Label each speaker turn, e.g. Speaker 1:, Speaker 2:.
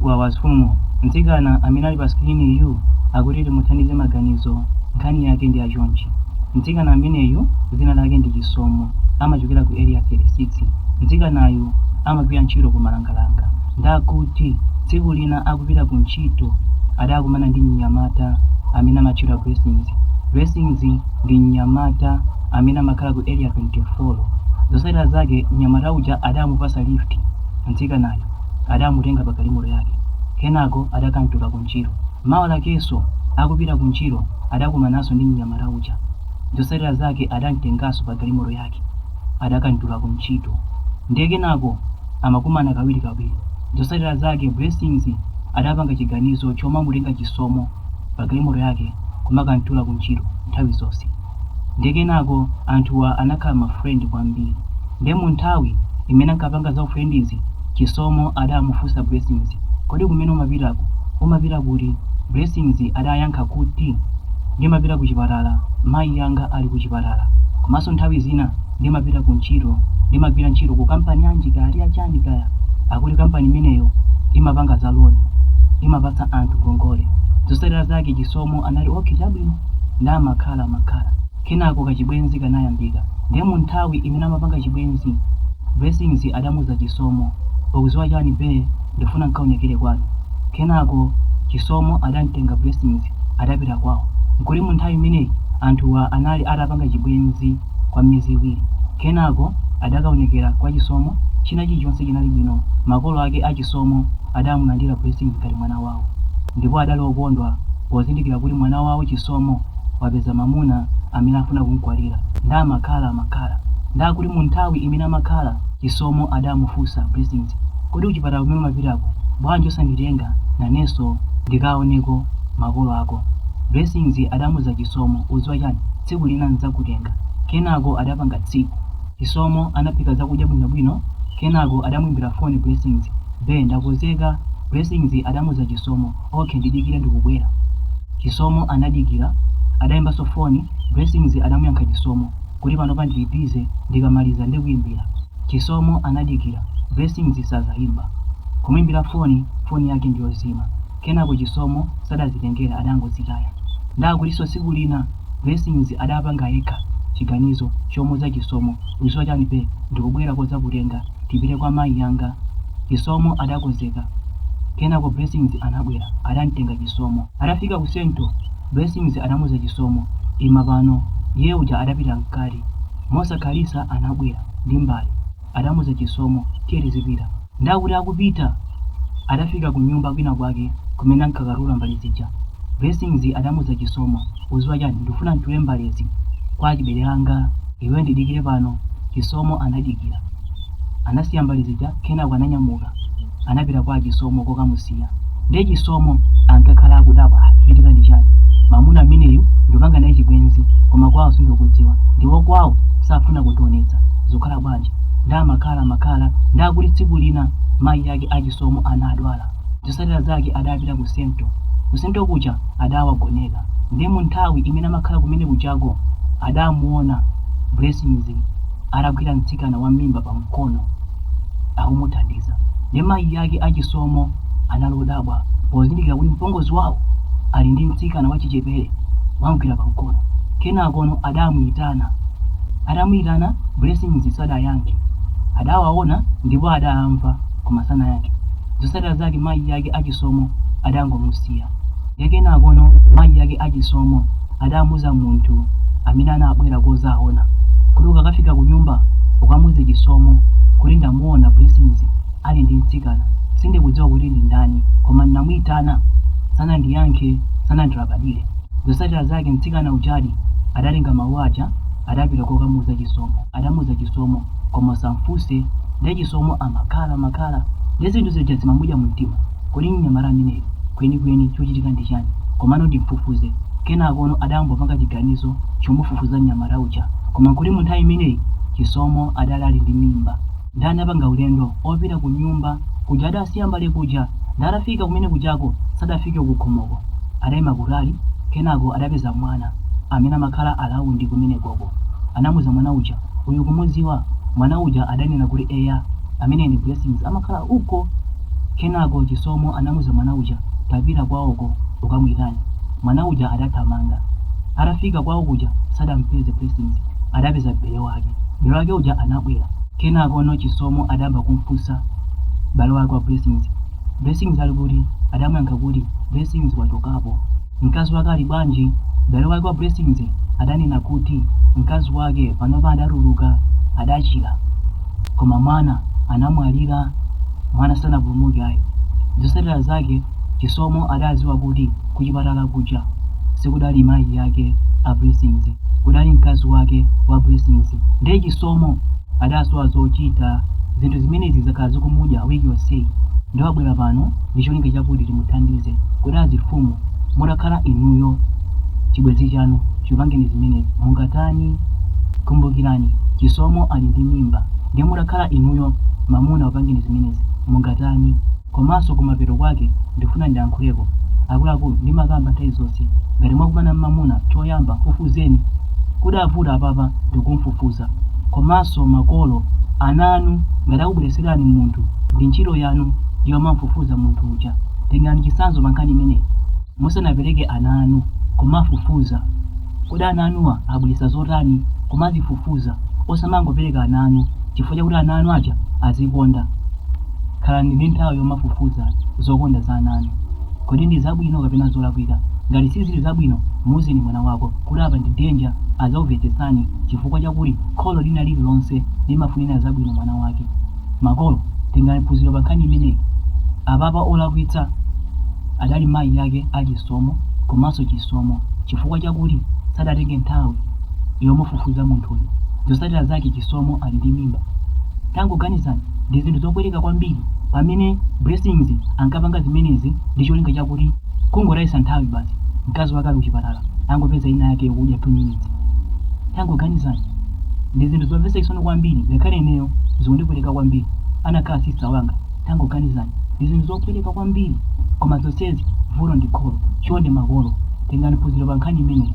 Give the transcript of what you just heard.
Speaker 1: Wawa mfumu, mtsikana amene ali pa skriniyu akuti timuthandize maganizo. Nkhani yake ndi yachonchi. Mtsikana ameneyu dzina lake ndi Chisomo, amachokera ku area 36. Mtsikanayu amagwira ntchito ku Malangalanga. Ndakuti tsiku lina akupita ku ntchito adakumana ndi mnyamata amene amatchedwa Blessings. Blessings ndi mnyamata amene amakhala ku area 24. Zotsatira zake mnyamata uja adamupasa lift mtsikanayo. adamutenga pa galimoto yake kenako adakamtula ku ntchito mawa lakenso akupita ku ntchito adakumananso ndi mnyamata uja zotsatira zake adamtenganso pa galimoto yake adakamtula ku ntchito ndiye kenako amakumana kawiri kawiri zotsatira zake blessings adapanga chiganizo chomamutenga chisomo pa galimoto yake kumakamtula ku ntchito nthawi zonse ndiye kenako anthuwa anakhala ma friend kwambiri nde mu nthawi imene ankapanga za ufriendizi Chisomo adamufunsa Blessings kodi kumene umapitaku umapita kuti? Blessings adayankha kuti ndimapita ku chipatala mayi anga ali ku chipatala komanso nthawi zina ndimapita ku ntchito ndimagwira ntchito ku kampani yanji kaya chani kaya akuti kampani imeneyo imapanga za loni imapatsa anthu ngongole zotsatira zake chisomo anati okay chabwino nde amakhala amakhala kenako kachibwenzi kanayambika ndiye mu nthawi imene amapanga chibwenzi blessings adamuuza chisomo ukudziwa chani be ndifuna nkaonekere kwanu kenako chisomo adamtenga blessings adapita kwawo nkuti mu nthawi imeneyi anthuwa anali atapanga chibwenzi kwa miyezi iwiri. Kenako adakaonekera kwa Chisomo, china chilichonse chinali bwino. Makolo ake a Chisomo adamulandira Blessings ngati mwana wawo ndipo adali okondwa pozindikira kuti mwana wawo Chisomo wapeza mamuna amene afuna kumkwatira nde amakhala amakhala ndakuti mu nthawi imene amakhala Chisomo adamufunsa Blessings kodi kuchipatala kumene umapitako bwanji osanditenga nanenso ndikaoneko makolo ako? Blessings adamuuza Chisomo udziwa chani? tsiku lina n'dzakutenga. Kenako adapanga tsiku. Chisomo anaphika zakudya bwinobwino kenako adamuimbira foni Blessings. Be ndakonzeka. Blessings adamuuza Chisomo. Okay ndidikire ndikubwera. Chisomo anadikira. Adaimbanso foni. Blessings adamuyankha Chisomo kuti panopa ndili busy ndikamaliza ndikuimbira. Chisomo anadikira. Blessings sazaimba. Kumuimbira foni, foni yake ndiyozima. kenako Chisomo sadazitengera adangozitaya ndakutinso tsiku lina Blessings adapanga yekha chiganizo chomuuza Chisomo udziwa chani be ndikubwera kodzakutenga tipite kwa mayi anga Chisomo adakonzeka kenako Blessings anabwera adamtenga Chisomo adafika ku central Blessings adamuuza Chisomo ima pano iye uja adapita mkati mosakhalitsa anabwera ndi mbale adamuza chisomo tiye tizipita nde akuti akupita adafika kunyumba kwina kwake kumene ankakatula mbale zija blessings adamuza chisomo uziwa chani ndifuna ntule mbalezi kwa achibale anga iwe ndidikire pano chisomo anadikira anasiya mbale zija kenako ananyamuka anapita kwa achisomo kokamusiya ndiye chisomo ankakhala akudabwa "Ah, chichitika ndi chani mamuna ameneyu ndikupanga naye chibwenzi koma kwawo sindikudziwa ndipo kwawo safuna kundionetsa zikukhala bwanji nde amakhala amakhala nde akuti tsiku lina mayi ake achisomo anadwala zotsatira zake adapita ku sento kusento kuja adawagoneka ndiye mu nthawi imene amakhala kumene kujako adamuona blessings atagwira mtsikana wa mimba pa mkono akumuthandiza nde mayi ake a Chisomo anali odabwa pozindikira kuti mpongozi wawo ali ndi mtsikana wachichepere wamgwira pamkono. Kenakono adamuyitana. Atamuyitana, Blessings sadayankhe. Adawaona ndipo adawamva koma sanayankhe. Zotsatira zake mayi ake a Chisomo adangomusiya. Ndiye kenakono mayi ake a Chisomo adamuuza munthu amene anabwera kozaona kuti ukakafika kunyumba ukamuuze Chisomo kuti ndamuona Blessings ali ndi mtsikana. Sindikudziwa kuti ndi ndani koma ndinamuitana sanandiyankhe, sanandilabadire. Zotsatira zake mtsikana ujadi adatenga mawu aja adapita kokamuuza Chisomo. Atamuuza Chisomo koma usamfunse ndiye Chisomo amakhala makhala ndiye zinthu zija zimamudya mumtima. Kodi mnyamata ameneyu kwenikweni chochitika ndi chani? Komano ndimfufuze. Kenakono adangopanga chiganizo chomufufuza mnyamata uja. Koma nkuti munthawi imeneyi Chisomo adali ali ndi mimba. Nde anapanga ulendo opita kunyumba kuja adasiya mbale kuja. Nde atafika kumene kujako sadafike kukhomoko. Adaima kutali kenako adapeza mwana amene amakhala alaundi kumenekoko. Anamuza mwana uja. Uyu ukumuziwa? Mwana uja adanena kuti eya, ameneyu ndi Blessings amakhala uko. Kenako Chisomo anamuza mwana uja, tapita kwaoko ukamuitane. Mwana uja adathamanga. Atafika kwao kuja sadampeze Blessings, adapeza bale wake. Bale wake uja anabwera. Kenakono Chisomo adayamba kumfunsa bale wake wa Blessings, Blessings ali kuti? Adamuyankha kuti, Blessings wachokapo. Mkazi wake ali bwanji? M'bale wake wa Blessings adanena kuti mkazi wake panopa adatuluka, adachira. Koma mwana anamwalira, mwana sanapulumuke ayi. Zotsatira zake Chisomo adadziwa kuti kuchipatala kuja sikudali mayi ake a Blessings, kudali mkazi wake wa Blessings. Ndiye Chisomo adasowa zochita. Zinthu zimenezi zakhala zikumudya wiki yonseyi. Ndiye wabwera pano ndi cholinga chakuti timuthandize kuti azifumu mutakhala inuyo chibwenzi chanu chipangeni zimenezi mungatani kumbukirani chisomo ali ndi mimba ndiye mutakhala inuyo mamuna wapangeni zimenezi mungatani komanso kumapeto kwake ndifuna ndiyankhuleko akuluakulu ndimakamba nthawi zonse ngati mwakumana mmamuna choyamba fufuzeni kudavuta apapa ndikumfufuza komanso makolo ana anu ngati akubweretserani munthu ndi ntchito yanu yomamfufuza munthu uja tengani chitsanzo pa nkhani imeneyi musanapereke ana anu kumafufuza kodi ana anuwa abweretsa zotani kumazifufuza osamangopereka ana anu chifukwa chakuti ana anu aja azikonda khalani ndi nthawi yomafufuza zokonda za ana anu Kodi ndi zabwino kapena zolakwika? Ngati sizili zabwino, muuzeni mwana wako kuti apa ndi danger. Adzakumvetsetsani chifukwa chakuti kholo lina lililonse limafunira zabwino mwana wake. Makolo, tengani phunziro pa nkhani imeneyi. Apapa olakwitsa adali mayi ake a Chisomo komanso Chisomo chifukwa chakuti sadatenge nthawi yomufufuza munthuyu. Zotsatira zake Chisomo ali ndi mimba. Tangoganizani, ndi zinthu zopweteka kwambiri pamene Blessings ankapanga zimenezi ndi cholinga chakuti kungotayitsa nthawi basi, mkazi wake ali kuchipatala angopeza ina yake yokudya 2 minutes. Tangoganizani, ndi zinthu zomvetsa chisoni kwambiri, ngakhale ineyo zikundipweteka kwambiri, anakhala sister wanga. Tangoganizani, ndi zinthu zopweteka kwambiri, koma zonsezi vuto ndi kholo. Chonde makolo, tengani phunziro pa nkhani imeneyi.